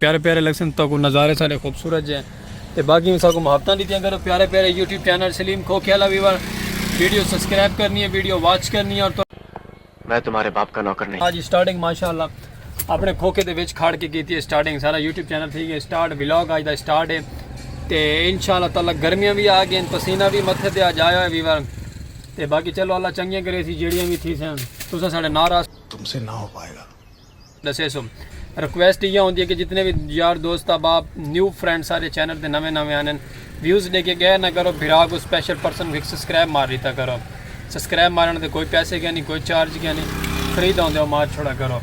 پیارے پیارے لگسن تو کو نظارے سارے خوبصورت جے تے باقی سا کو محبتاں دیتیاں کرو پیارے پیارے YouTube channel Saleem Khokhiala viewer video subscribe کرنی ہے ویڈیو واچ کرنی ہے اور تو میں تمہارے باپ کا نوکر نہیں آج سٹارٹنگ ماشاءاللہ اپنے کھوکے دے وچ کھڑ کے کیتی ہے سٹارٹنگ سارا یوٹیوب چینل تھی گئے سٹارٹ ولاگ آج دا سٹارٹ ہے تے انشاءاللہ تعالی گرمیاں بھی آ گئے پسینہ بھی متھے تے آج آیا ہے ویور تے باقی چلو اللہ چنگیاں کرے سی جیڑیاں بھی تھی سن تساں ساڈے ناراض تم سے نہ ہو پائے گا ڈسیسوں ریکویسٹ ایہا ہوندی ہے کہ جتنے وی یار دوست احباب نیو فرینڈ سارے چینل تے نویں نویں آنن ویوز ڈے کے گئے نہ کرو بھرا کو سپیشل پرسن کو ہک سبسکرائب مار ڈیتا کرو سبسکرائب مارن دے کوئی پیسے کیا نہیں کوئی چارج کیا نہیں فری دا ہوندے او مار چھوڑا کرو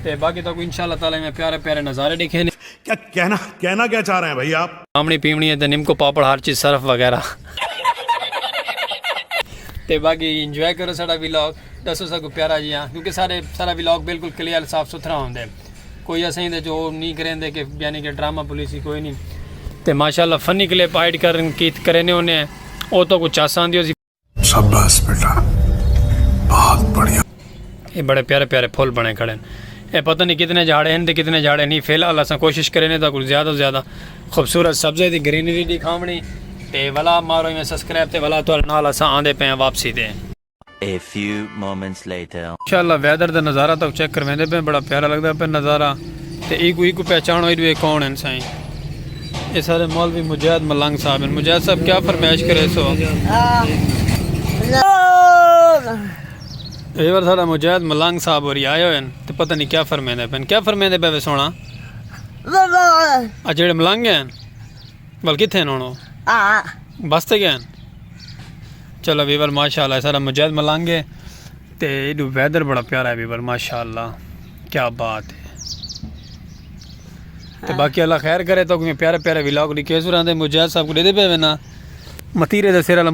تے باقی تاکو انشاءاللہ تعالی میں پیارے پیارے نظارے ڈکھے نے کیا کہنا کہنا کیا چاہ رہے ہیں بھائی آپ آمنی پیمنی ہے تے نمکو پاپڑ ہر چیز صرف وغیرہ تے باقی انجوائے کرو ساڑا ویلاگ ڈسو ساکوں پیارا جیاں کیونکہ سارے سارا ولاگ بالکل کلیئر صاف ستھرا ہوندا ہے کوئی اسیں دے جو نہیں کریندے کہ یعنی کہ ڈرامہ پولیسی کوئی نہیں تے ماشاءاللہ فنی کلپ ایڈ کرن کیت کرینے ہونے ہیں او تو کو چاساں دیو سی شاباش بیٹا بہت بڑھیا اے بڑے پیارے پیارے پھول بنے کھڑے ہیں اے پتہ نہیں کتنے جھاڑے ہیں تے کتنے جھاڑے نہیں فی الحال اساں کوشش کرینے تا کچھ زیادہ زیادہ خوبصورت سبزے دی گرینری دکھاونی تے ولا مارو میں سبسکرائب تے ولا تو نال اساں آندے پے ہیں واپسی دے A few moments later. ماشاءاللہ ویدر دا نظارہ تاں چیک کرویندے پئے بڑا پیارا لگدا پئے نظارہ تے ایکو ایکو پہچانو ایڈو اے کون ہن سائیں اے سارے مولوی مجاہد ملنگ صاحب ہن مجاہد صاحب کیا فرمائش کرے سو اے ور سارا مجاہد ملنگ صاحب ہوری آئے ہوئے ہن تے پتہ نہیں کیا فرمیندے پئے کیا فرمیندے پئے وے سونا اچھا جڑے ملنگ ہیں بل کتھے ہن ہن او ہاں بس تے گئے ہن چلو ویور ماشاءاللہ ہے سارا مجاہد ملنگ ہے تے ایڈو ویدر بڑا پیارا ہے ویور ماشاءاللہ کیا بات ہے تے باقی اللہ خیر کرے تو کوئی پیارے پیارے ویلاگ لکھے سو رہندے مجاہد صاحب کو دے دے پے وینا متیرے دے سیرا لم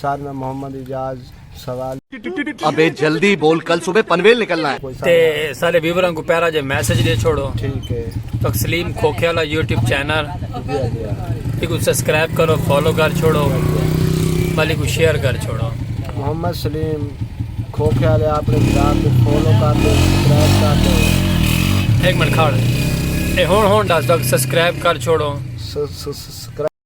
سار میں محمد اعجاز سوال۔ ابے جلدی بول کل صبح پنویل نکلنا ہے۔ تے سارے ویوراں کو پیارا جے میسج دے چھوڑو۔ ٹھیک ہے۔ تکسلیم کھوکھے والا یوٹیوب چینل تے کو سبسکرائب کرو فالو کر چھوڑو۔ بھلے کو شیئر کر چھوڑو۔ محمد سلیم کھوکھے والے اپنے چینل کو فالو کر دے سبسکرائب کر دے۔ ایک منٹ کھڑ۔ اے ہون ہون دس تک سبسکرائب کر چھوڑو۔ سبسکرائب۔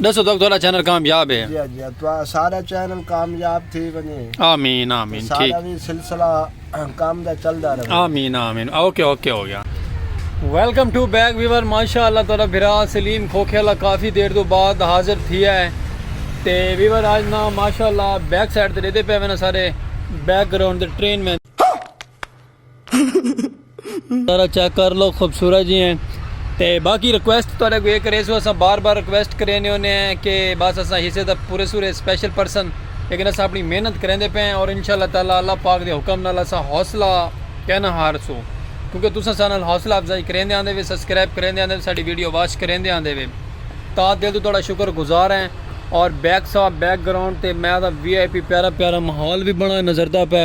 ڈسو تک تہاڈا چینل کامیاب ہے جی ہاں جی ہاں سارا چینل کامیاب تھی ونجے آمین آمین ٹھیک سارا بھی سلسلہ کام دا چلدا رہے آمین آمین اوکے اوکے ہو گیا ویلکم ٹو بیک ویور ماشاء اللہ تہاڈا بھرا سلیم کھوکھے والا کافی دیر تو بعد حاضر تھیا ہے تے ویور آج نا ماشاء اللہ بیک سائڈ تے دیتے پے وینا سارے بیک گراؤنڈ دے ٹرین میں ذرا چیک کر لو خوبصورت جی ہیں تے باقی ریکویسٹ تو نے کوئی کریسو اسا بار بار ریکویسٹ کرینے ہونے ہیں کہ بس اسا حصے دا پورے سورے سپیشل پرسن لیکن اسا اپنی محنت کریندے پے ہیں اور انشاءاللہ تعالی اللہ پاک دے حکم نال اسا حوصلہ کیا نہ ہار سو کیونکہ تسا سا نال حوصلہ افزائی کریندے آندے وے سبسکرائب کریندے آندے وے ساڈی ویڈیو واچ کریندے آندے وے تا دل تو تہاڈا شکر گزار ہیں اور بیک سا بیک گراؤنڈ تے میں دا وی آئی پی پیارا پیارا ماحول بھی بنا نظر دا پے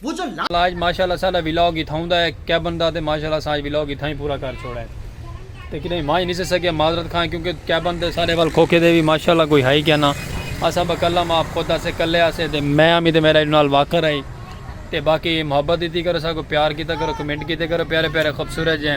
ساج ماشاء اللہ ساڈا ولاگ اتھاؤں دا ہے کیبن دا تے ماشاء اللہ اساں اج ولاگ اتھاں ہی پورا کر چھوڑا ہے تے کڈہیں وانج نی سے سکیا معذرت خواں کیونکہ کیبن تے ساڈے ول کھوکھے دے وی ماشاء اللہ کوئی ہائی کینا اساں با کلم آپ خود اسے کلے اسے تے میں امی تے میرا نال واکر ہائی تے باقی محبت دیتی کرو ساکو پیار کیتا کرو کمنٹ کیتے کرو پیارے پیارے خوبصورت جے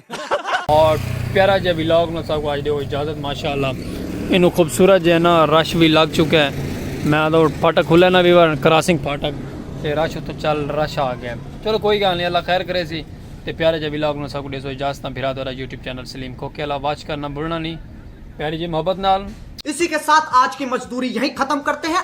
اور پیارا جے ویلاگ نہ ساکو آج دے ہو اجازت ماشاءاللہ انو خوبصورت جے نا رش بھی لگ چکے میں آدھو پھاٹک کھلے نا ویور کراسنگ پھاٹک تے رش اتو چل رش آگے چلو کوئی گال نہیں اللہ خیر کرے سی تے پیارا جے ویلاگ نہ ساکو دے سو اجازت بھرا دورا یوٹیوب چینل سلیم کھوکے اللہ واچ کرنا بھولنا نہیں پیاری جے محبت نال اسی کے ساتھ آج کی مزدوری یہیں ختم کرتے ہیں۔